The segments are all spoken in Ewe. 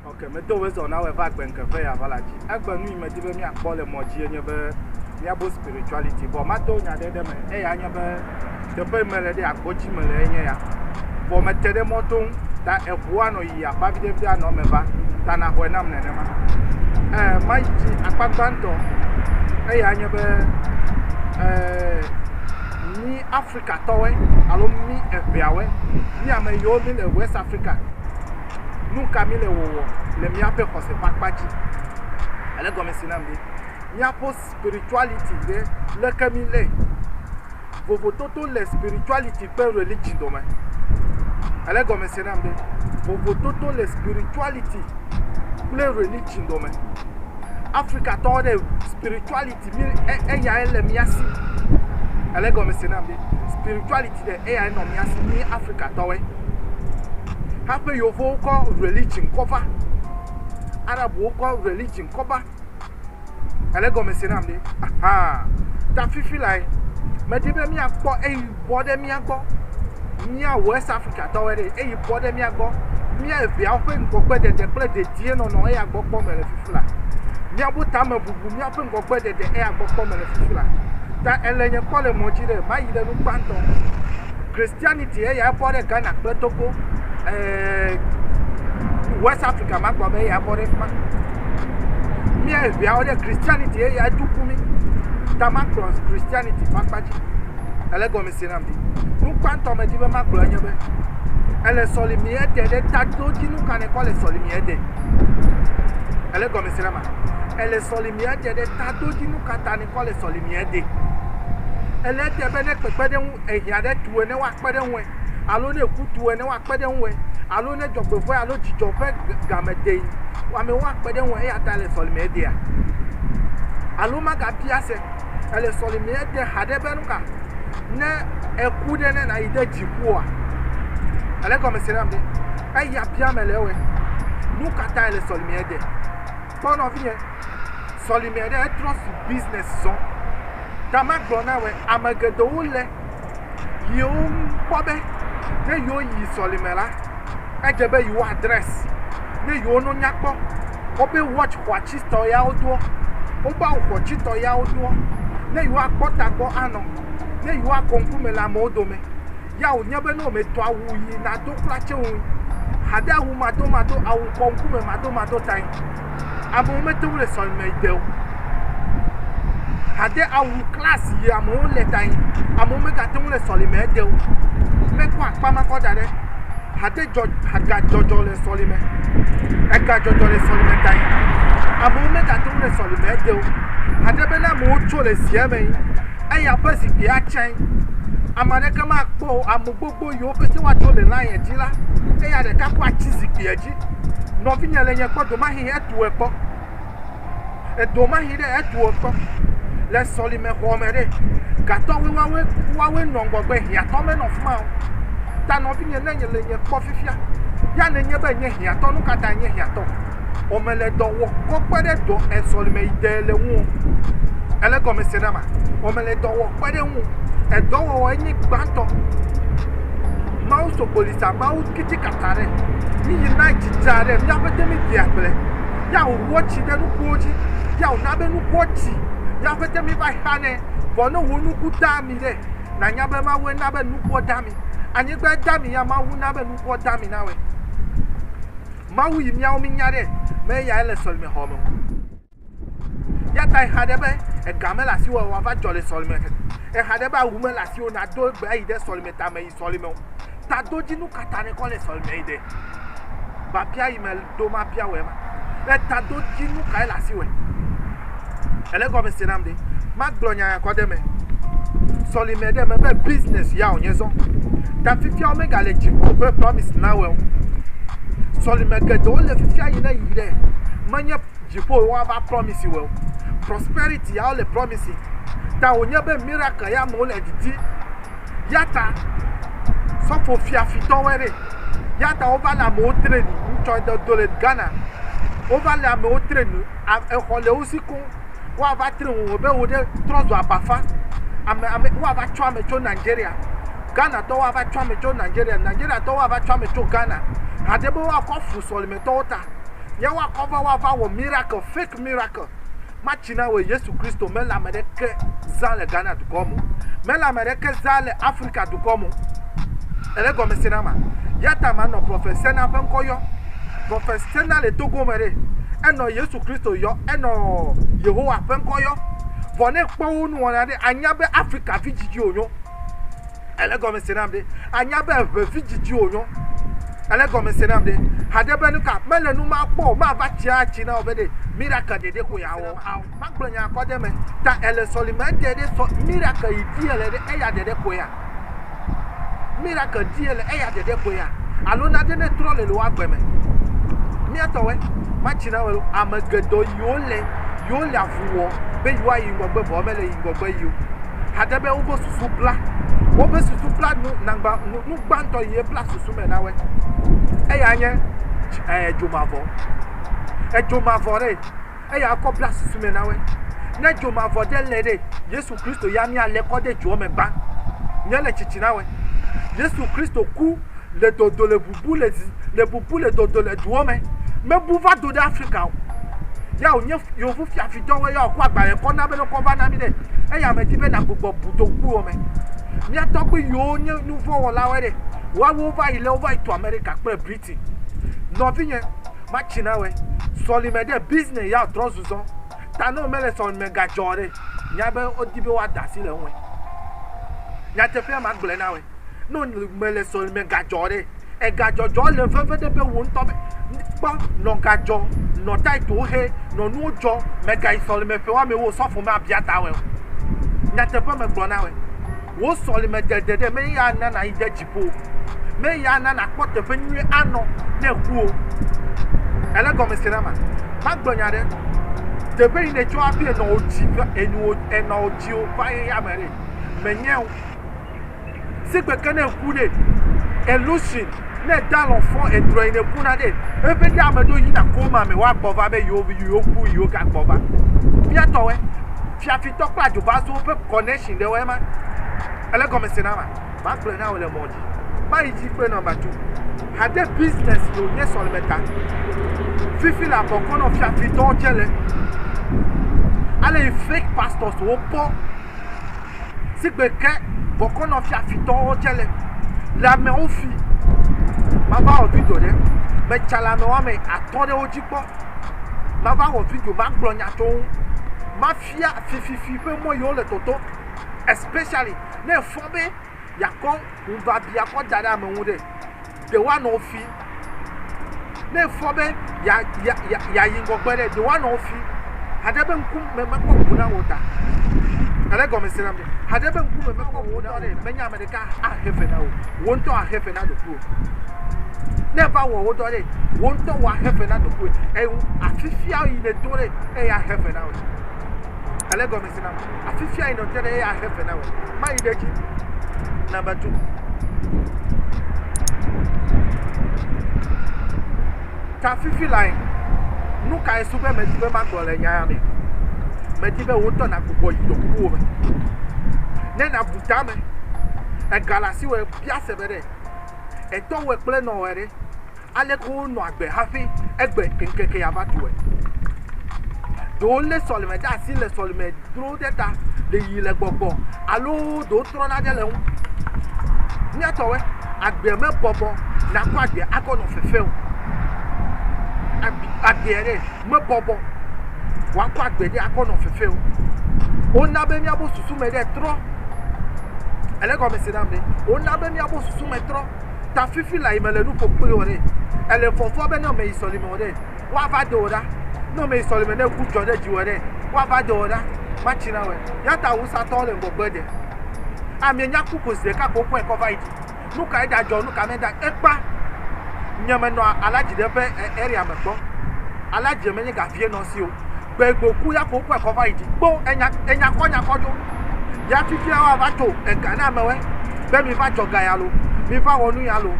ok medo wezɔ na wɔ va gbɛnkɛƒe ya va la dzi egbe nu yi medi be míakpɔ le mɔ dzi enye be míabo spirituality vɔ mato nya ɖe ɖe me eya nye be teƒe me le ɖe agbɔ dzi me le enye ya vɔ me te ɖe mɔto ŋu ta eʋua nɔ yi akpa vide vide anɔ me va ta na xɔe nam nenema eh ma yi dzi akpa gbãtɔ eya nye be eh mi afrika tɔwɔe alo mi eʋeawɔe mi ame yiwo mi le west afrika nu ka mi le wɔwɔ le miaƒe xɔse ƒe akpa dzi ele gɔmesi nam ɖi miaƒe Spirituality ɖe, leke mi le? Vovototo le spirituality kple religion dome. Ele gɔme se nam be vovototo le spirituality kple religion dome. Africa tɔwo ɖe spirituality mi e eya ele mia si. Ele gɔme se nam be spirituality ɖe eya enɔ mia si mi Africa tɔwoe. Haƒe yevuwo kɔ religion kɔ va. Arabwo kɔ religion kɔ va. Ele gɔme se nam ɖe? Ahaa. Ta fifi lae, medi be míakpɔ eyi bɔ ɖe mía gbɔ. Mía West Africatɔwoe ɖee. Eyi bɔ ɖe mía gbɔ. Mía eveawo ƒe ŋgɔgbedede kple dedienɔnɔ eya gbɔ kpɔ mele fifi la. Míaƒe tamebubu, míaƒe ŋgɔgbedede eya gbɔ kpɔ mele fifi la. Ta ele nye kpɔ le mɔ dzi ɖe mayi ɖe nu gbãtɔ. Christianity eyae bɔ ɖe Ghana kple Togo ɛɛ West Africa ma gbɔ be eyae bɔ ɖe fi ma. Mía eŋeawo ɖe Christianity eyae tuku mí. Tamakplɔ Christianity ƒe akpa dzi. Ele gɔme se nam ɖi. Nu gbãtɔ medi be magblɔ enye be ele sɔlimi ede ɖe taɖodzinu ka nekɔ le sɔlimi ede. Ele gɔme se na ma. Ele sɔlimi ede ɖe taɖodzinu ka ta ne kɔ le sɔlimiɛ de. Ele te be ne kpekpeɖeŋu ehiã ɖe tu ene woakpe ɖe ŋue alo ne eku tu ene woakpe ɖe ŋue alo ne dzɔgbevɔ̃e alo dzidzɔ ƒe game dee amewo akpe ɖe ŋue eya ta ele sɔlimiɛ dea? Alo magabia se ele sɔlimiɛ de haɖe be nuka ne eku ɖe ne nayi ɖe dziƒoa? Ele gɔme se nam ɖe? Eya bia me le ewɔe. Nu ka ta ele sɔlimiɛ de? Kpɔ nɔvinye. sɔlime ɖe etrɔ su business zɔ. Ta magblɔ na wɔ ame geɖewo le yewo kpɔ be ne yewo yi sɔlime la, edze be yewo adress ne yewo no nyakpɔ. Wobe watch xɔatsitɔ yawo doɔ, wobe awu xɔatsitɔ yawo doɔ, ne yewo akpɔ tagbɔ anɔ, ne yewo akɔ ŋkume le amewo dome. ya wònye be ne wòmetɔ awu yi nado kura tse ŋu hade awu madomado awu kɔ ŋkume madomado tae amewo mete ŋu le sɔlime yi de o hade awu klasi yi amewo le tae amewo megate ŋu le sɔlime yi de o mekɔ akpa ma kɔ da ɖe hade dzɔ hagadzɔdzɔ le sɔlime egadzɔdzɔ le sɔlime tae amewo megate ŋu le sɔlime yi de o hade be ne amewo tso le sia me yi. eya ƒe zikpui atsɛ̃, ame aɖeke makpɔ o, ame gbogbo yiwo pete woato le lion dzi la, eya ɖeka ko atsi zikpuia dzi. Nɔvinye le nye kpɔ domahi etɔe kpɔ, edomahi ɖe etɔe kpɔ le sɔlime xɔ me ɖe, gatɔwoe woawoe woawoe nɔ ŋgɔgbe hiãtɔ menɔ afi ma o. Ta nɔvinye ne le nye kpɔ fifia ya nenye be nye hiãtɔ, nu ka tae nye hiãtɔ? ɔ me le dɔ wɔ kɔ kpe ɖe dɔ e sɔlime yi de le ŋu o. Ele gɔme se na ma. Ɔ me le dɔ wɔ kpe ɖe ŋu. Edɔwɔwɔ enyi gbãtɔ. Mawu so gboli sa Mawu kiti kata ɖe. Mi yi na jija ɖe mia ƒete mi dia gble. Ya wo wɔ tsi ɖe nukuwo dzi. Ya wo na be nukuwo tsi. Mia ƒete mi va xa ne vɔ ne wo nuku da mi ɖe. Na nya be Mawu ena be nukuwo da mi. Anyigba da mi ya Mawu na be nukuwo da mi na wɛ. Mawu yi míawo mínya ɖe be eyae le sɔlimexɔme o. Eya ta exa ɖe be ega mele asiwò o wòava dzɔ le sɔlime ke. Exa ɖe be awu mele asiwò o nàdo egbe ayi ɖe sɔlime tame yi sɔlime o. Tadodzinu ka ta nèkɔ le sɔlime yi ɖe? Biabia yi meɖo mabia wòe ma. Tadodzinu kae le asiwòe? Ele gɔme se nam ɖe. Magblɔ nya ya kɔ ɖe eme. Sɔlime ɖe eme be business ya wònye zɔ. Ta fifia womega le dziƒo ƒe promise na wɔ o. Sɔlime geɖewo le fifia yi ne yi ɖe menye dziƒo yi woava promise wɔ o. Prosperity ya wole promise. Ta wònye be miracle ya amewo le didi. Ya ta sɔfo fiafitɔ wɔ ɖe. Ya ta wova le amewo training. Ŋutsɔ do le Ghana. Wova le amewo training. a exɔ le wo si koŋ. Woava tre ŋu wɔbe wò ɖe trɔzɔ abafa. Ame ame woava tsɔ ame tso Nigeria. Ghanatɔwo ava tsɔ ame tso Nigeria. Nigeriatɔwo ava tsɔ ame tso Ghana. Haɖe be woakɔ afu sɔlemetɔwo ta. Ye woakɔ va woava wɔ miracle, fake miracle. Matsi na wòe Yesu Kristo mele ame ɖeke zã le Ghana dukɔ me o. Mele ame ɖeke zã le Afrika dukɔ me o. Èɖe gɔmesese na ma. Yata manɔ Prophet Sena ƒe ŋkɔ yɔ. Vɔ fesena le togo me ɖe, enɔ Yesu Kristo yɔ, enɔ Yehowa ƒe ŋkɔ yɔ. Vɔ ne ekpɔ wo nuwɔna ɖe, anya be Afrika vi djidji wònyɔ. Èle gɔme se nam ɖe? Anya be eŋe vi djidji wònyɔ. Èle gɔme se nam ɖe? Haɖe be nuka? Mele nu ma kpɔ o. Mava tsia atsi na wò be ɖe miracle ɖeɖe koe yeawɔ ao. Magblɔ nya kɔ ɖe eme. Ta èle sɔlime ɖeɖe sɔ miracle yi di èle ɖe eya ɖeɖe koea? Miracle die le eya dede ko ya alo na de ne trɔ le le wa gbe me. Mia tɔ we ma tsi na we lo ame gedɔ yiwo le yiwo le avu wɔ be yiwa yi ŋgɔgbe vɔ me le yi ŋgɔgbe yiwo. Hade be wobe susu bla wobe susu bla nu nangba nu nu gbantɔ yi bla susu me na we. Eya nye eh, dzomavɔ. Edzomavɔ re. eya akɔ bla susu me na wɛ. Ne dzo mavɔ ɖe le ɖe, Yesu Kristo ya mía le kɔ ɖe dzoɔ me ban. Mía le tsitsi na wɛ. Yesu Kristo ku le dodo le bubu le zi le bubu le dodo le duɔ me. Me bu va do ɖe Afrika o. Ya o nye yovu fiafi dɔ wɛ ya o kɔ agbalẽ kɔ na be ne kɔ va na mi ɖe. Eya me di be na gbugbɔ bu do kuɔ me. Mía tɔgbi yiwo nye nuvɔ wɔla wɛ ɖe, woa wo va yi le wo va yi to Amerika kple Brit. Ti. Nɔvinyɛ, ma tsi na wɛ. Sɔlimɛ ɖe business ya trɔ zuzɔ. Ta ne wome le sɔlimɛ ga dzɔ ɖe, nya be wo di be woa da asi le ŋuɛ. Nyateƒea ma gblɔɛ na wɛ. Ne wo me le sɔlimɛ ga dzɔ ɖe, ega dzɔ dzɔ le veve ɖe be wo ŋutɔ be, kpɔ, nɔ ga dzɔ, nɔ tithe wo xe, nɔ nuwo dzɔ, mɛ ga yi sɔlimɛ ƒe woame wo osɔfo me abia ta wɛ o. Nyateƒe me gblɔ na wɛ. Wò sɔlemedede ɖe mee ya ana nàyi ɖe dziƒo, mee ya ana nàkpɔ teƒe nyui anɔ ne èku o. Èle gɔme se na ma? Magblɔ nya ɖe. Teƒe yi nètsɔ aɖo enɔwodzi va enuwo enɔwodziwo va ye ya me ɖe menye o. Sigbe ke ne èku ɖe elusin ne ède alɔ fɔ edrɔ̃ yi nèkuna ɖe eƒe ɖe ame ɖewo yina koma me woagbɔ va be yewo yewoku yewogagbɔ va. Mía tɔwɔe. Fiafitɔ kple adzobaazuwo ƒe connection ɖe wɔe ma. Ele gɔme se na ma. Ma gblɔe na wò le mɔ dzi. Ma yi dzi kple number two. Hade business yo nye sɔleme ta. Fifi la bɔkɔ nɔ fiafitɔ dze le. Ale yi fake pastors wo kpɔ. Sigbe ke bɔkɔ nɔ fiafitɔ wo dze le. Le amewo fi. Ma va wɔ video ɖe. Me tsa le ame wɔme atɔ ɖe wo dzi kpɔ, mava wɔ video, magblɔ nya tso ŋu, mafia fififi ƒe mɔ yi wole tɔtɔ especially ne efɔ be yeakɔ ŋubiabia kɔ da ɖe ame ŋu ɖe, ɖe woanɔ wo fi. Ne efɔ be yeayi ŋgɔgbe ɖe, ɖe woanɔ wo fi. Haɖe be ŋku me mekpɔ ŋu na wò ta. Ele gɔme se na mi. Haɖe be ŋku me mekpɔ ŋu na wò ta ɖe, menye ame ɖe. Ka ahe fe na wò, wò ŋutɔ ahe fe na ɖokuiwò. Ne va wɔ wo dɔ ɖe, wò ŋutɔ wò ahe fe na ɖokuiwò. Eye afifia yi nèdo ɖe, eya ahe fe na wò. Ale gɔme se na me. Afifia yi nète ɖe, eya ahe fe na wò. Mayi ɖe edzi na metu. Tsa fifi lae, nu kae su be medi be magblɔ le nya ya me? Medi be wò ŋutɔ nàgbugbɔ yi dɔkukuwo me. Ne nàbu ta me, ègale asiwɔe bia se be ɖe etɔwɔe kple nɔwɔe ɖe, aleke wonɔ agbe hafi egbe ŋkeke ya va tuwɔe. Ɖewo lé sɔleme ɖe asi le sɔleme dro. wo ɖe ta le yi le gbɔgbɔ alo ɖewo trɔ nane le ŋu. Míatɔwɔe agbe me bɔbɔ nakɔ agbe akɔ nɔ fefe o. Agbe ɖe me bɔbɔ wakɔ agbe ɖe akɔ nɔ fefe o. Wona be míabo susu me ɖe trɔ. Ele gɔme se nam ɖe. Wona be míabo susu me trɔ. Ta fifi la yi me le nuƒo kpli wɔ ɖe. Ele fɔfɔ be ne me yi sɔlime wɔ ɖe. woava do wò ɖa. Ne ame yi sɔleme ne ku dzɔ ɖe dziwɔ ɖe, woava do wò ɖa. Matsi na wɛ. Yata awusatɔwo le gbɔgbe ɖe. Amie nya ku ko zeka ko kɔe kɔ va yi dzi. Nu ka eda dzɔ, nu ka me da ekpa. Nye me nɔ alaji ɖe ƒe area me kpɔ. Alaji me nye gavie nɔ si o. gbe gboku ya ko kpɔ xɔ va yi dzi kpo enya enya kɔ nya kɔ dzo ya fifi ya wa va to ega na amewe be mi va jɔ ga ya lo mi va wɔ nu ya lo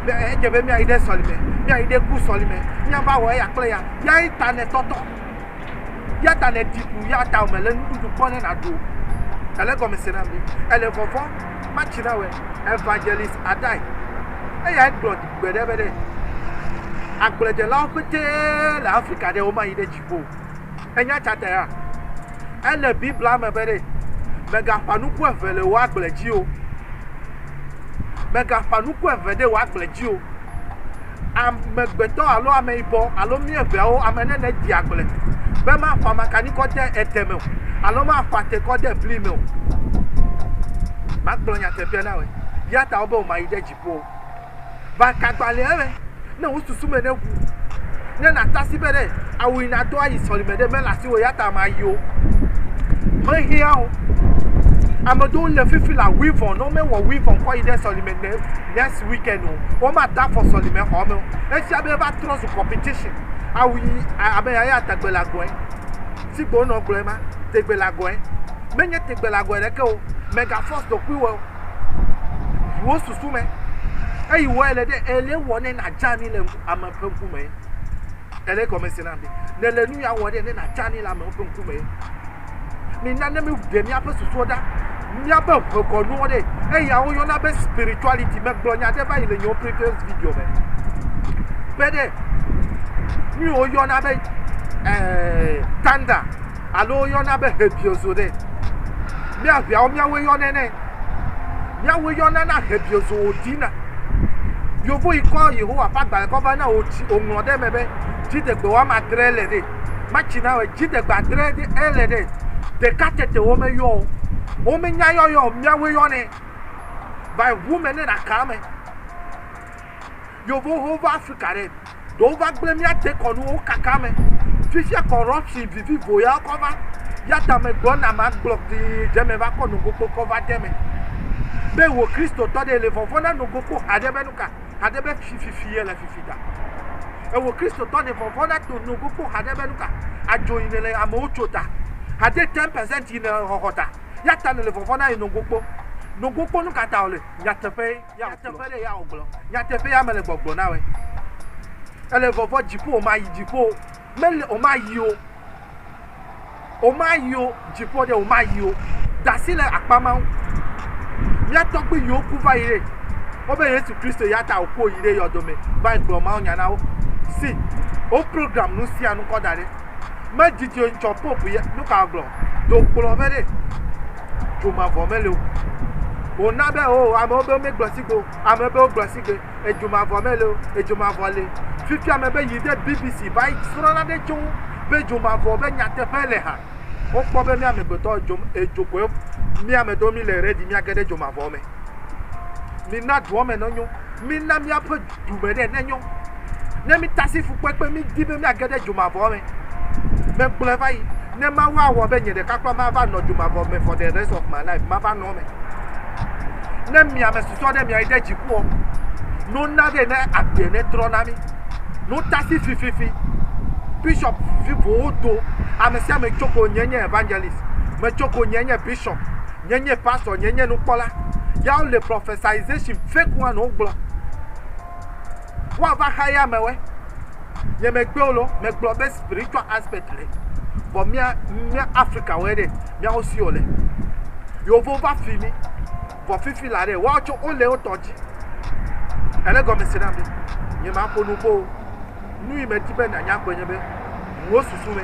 be edze be mi ayi ɖe sɔlime mi ayi ɖe ku sɔlime mi va wɔ eya kple ya ya yi ta ne tɔtɔ ya ta ne tiku ya ta o me le nuɖuɖu kpɔ ne na do ele gɔme se na mi ele vɔvɔ matsi na wɛ evangelist adai eya gblɔ gbe ɖe be ɖe agbledzelawo pete le afrika ɖe wo ma yi ɖe dzi o. Ènya tsatea? Ele Biblia me be ɖe, Mègaƒã nuku eve le wò agble dzi o. Mègaƒã nuku eve ɖe wò agble dzi o. Amegbetɔ alo ameyibɔ alo mí eveawo ame ne nèdi agble be maƒã makani kɔ de ede me o alo maƒã te kɔ de bli me o. Magblɔ nyateƒea na wòe. Yata wòbe wòmayi ɖe dzi. Vɔ va kagbalẽa me ne wò susu me neʋu, ne nàta si be ɖe ao yi nàdo ayi sɔlime ɖe mele asiwò eya ta mayi o. Xexea o, ame ɖewo le fifi le awuivɔn, ne womewɔ wuivɔn kɔ yi ɖe sɔlime ne next weekend o, womada afɔ sɔlime xɔ me o. Efia be eva trɔ zu competition. Awu yi abe ya ya tegbelagɔe, sigbe wonɔ gblɔe ma, tegbelagɔe. Menye tegbelagɔe ɖeke o, mega force ɖokuiwò o. ʋuwo susu me. Eyi wɔe le ɖe ele wɔ ne nadze anyi le ame ƒe ŋkume. Ele gɔme se na mi. Ne le nu ya wɔ ɖe ne nadze anyi le amewo ƒe ŋkume. Mina ne míɖe míaƒe susuwo ɖa. Míaƒe ʋekɔnuwo ɖe eya woyɔna be spirituality. Megblɔ nya ɖe va yi le yewo previous video me. Be ɖe nu yi woyɔna be ɛɛ eh, thunder alo woyɔna be hebiozo ɖe. Mía ʋeawo míawoe yɔnɛ nɛ. Míawoe yɔna na hebiozo wòɖina. Yovo yi kɔ Yehowa ƒe agbalẽ kɔ va na wò tsi wòŋlɔ ɖe eme be dziɖegbe woame adre le ɖe. Matsi na wɔ dziɖegbe adre ɖe ele ɖe. Ɖeka tete womeyɔ o. Womenya yɔyɔ o. Míawoe yɔnɛ. Va yi ʋu me ne nàka eme. Yevowo va Afrika ɖe? Ɖewo va gblẽ mía dekɔnuwo kaka me. Fifia corruption vivivo ya kɔ va. Yata me gblɔ na ma gblɔ kpli dze me va kpɔ nogokpo kɔ va de me. Be wo Kristotɔ ɖe le vɔvɔ na nogokpo haɖe be nuka? Haɖe be fififi ye le fifi ta. Ewo Kristotɔ le vɔvɔ na to nogokpo haɖe be nuka? Adzo yi ne le amewo tso ta. Haɖe 10% yi ne xɔxɔ ta. Yata ne le vɔvɔ na yi nogokpo. Nogokpo nuka ta wo le? Nyateƒe ye. Nyateƒe ɖe ya wògblɔ. Nyateƒe ya mele gbɔgblɔ na wòe. Ele vɔvɔ dziƒo wòmayi dziƒo o. Mele wòmayi o. Wòmayi o. Dziƒo ɖe wòmayi o. Dasi le akpa ma ŋu. Mía tɔgbui yiwo ku va yi ɖe. Wobe Yesu Kristo ya ta wòku wòyi ɖe yɔdo me va yi gblɔ mawunya na wo. See, wo program nu sia nu kɔ da ɖe. me didi o ŋtsɔ pope yɛ nu ka gblɔ do kplɔ ƒe ɖe dzo mavɔ me le o o na be o ame wo be me gblɔ si go ame be o gblɔ si gbe edzo mavɔ me le o edzo mavɔ le fifi ame be yi de bbc va yi srɔ na ɖe tso be edzo mavɔ be nyateƒe le ha o kpɔ be mi amegbetɔ edzo edzo ko mi ame do mi le redi mi age ɖe edzo mavɔ me Mina dua me nɔnyo. Mina míaƒe du me ɖe nenyo. Ne mítasi fukpekpe, mídi be míage ɖe dzomavɔ me. Megblɔe va yi. Ne Mawu awɔ be nye ɖeka kura mava nɔ dzomavɔ me for the rest of my life, mava nɔ eme. Ne mi ame susɔ ɖe miayi ɖe dziƒoɔ, no na ɖe ne agbe ne trɔ na mi. No tasi fififi. Bishop vivowo do. Ame sia ame tso ko nye nye evangelist. Metso ko nye nye bishop. nye nye pastor nye nye nukpɔla ya wo le prophesization fake one wo gblɔ wo ava xa ya me we nye me gbe wo lo me gblɔ be spiritual aspect le vɔ mia mia africa we ɖe mia wo si o le yovo va fi mi vɔ fifi la ɖe wa tso wo le wo tɔ dzi ele gɔme se na mi nye ma ko nubo nu yi me ti be na nya gbe nye be wo susu me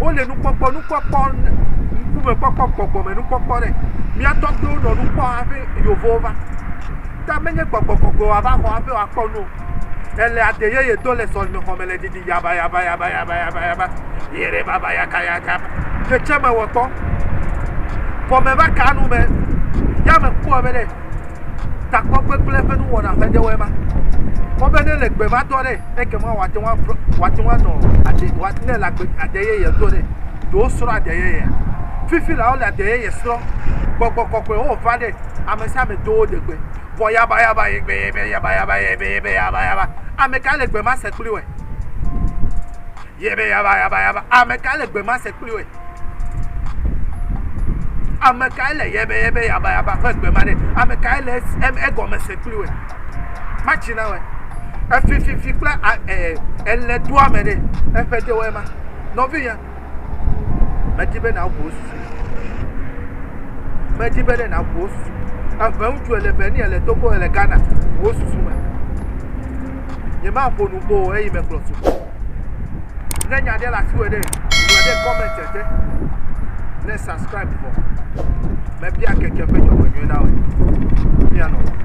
wole nukpɔkpɔ, nukpɔkpɔ, ŋkume kpɔkpɔ, gbɔgbɔme nukpɔkpɔ ɖe. Mía tɔgbuiwo nɔ nu kpɔm hafi Yevowo va. Ta menye gbɔgbɔgbɔgbe wòava xɔ hafi wòakpɔ nu o. Ele ade yeye do le sɔlemexɔme le didi yabayabayabayabayaba, yerebabayakayaka. Xexeame wɔ kpɔ. Gɔme va kaa nu me. Ya mekpɔe be ɖe. takpɔkpɔ kple eƒe nuwɔna ƒe ɖewoe ma. Kpɔ be ne le gbe ma dɔ ɖe, ekema wòate ŋu atrɔ wòate ŋu anɔ ade wòate ne le agbe ade yeye do ɖe. Do wosrɔ̃ ade yeyea. Fifi la wole ade yeye srɔ̃. Gbɔgbɔ kɔkɔe wo va ɖe ame sia ame do wo de gbe. Vɔ yabayaba yebe yebe yabayaba yebe yebe yabayaba. Ame ka le gbe ma se kpli wɔe? Yebe yabayaba yaba. Ame ka le gbe ma se kpli wɔe? Ame kae le yɛbɛyɛbɛ yabayaba ƒe gbe ma ɖe? Ame kae le egɔme se kpli wòe? Matsi na wòe. Efififi kple ele do ame ɖe, eƒe de wɔe ma. Nɔvinyɛ, medi be nàŋu wò susu. Medi be ɖe nàŋu wò susu. Eʋe ŋutsu ele Benin, ele Togo, ele Ghana, wò susu me. Nyemaƒo nu kpɔ o eyi me kplɔ tu. Ne nya ɖe le asiwò ɖe, ŋlɔ ɖe comment te ne subscribe vɔ. Mebia keke ƒe dzɔgbenyui na wò. Míanɔ lɔ.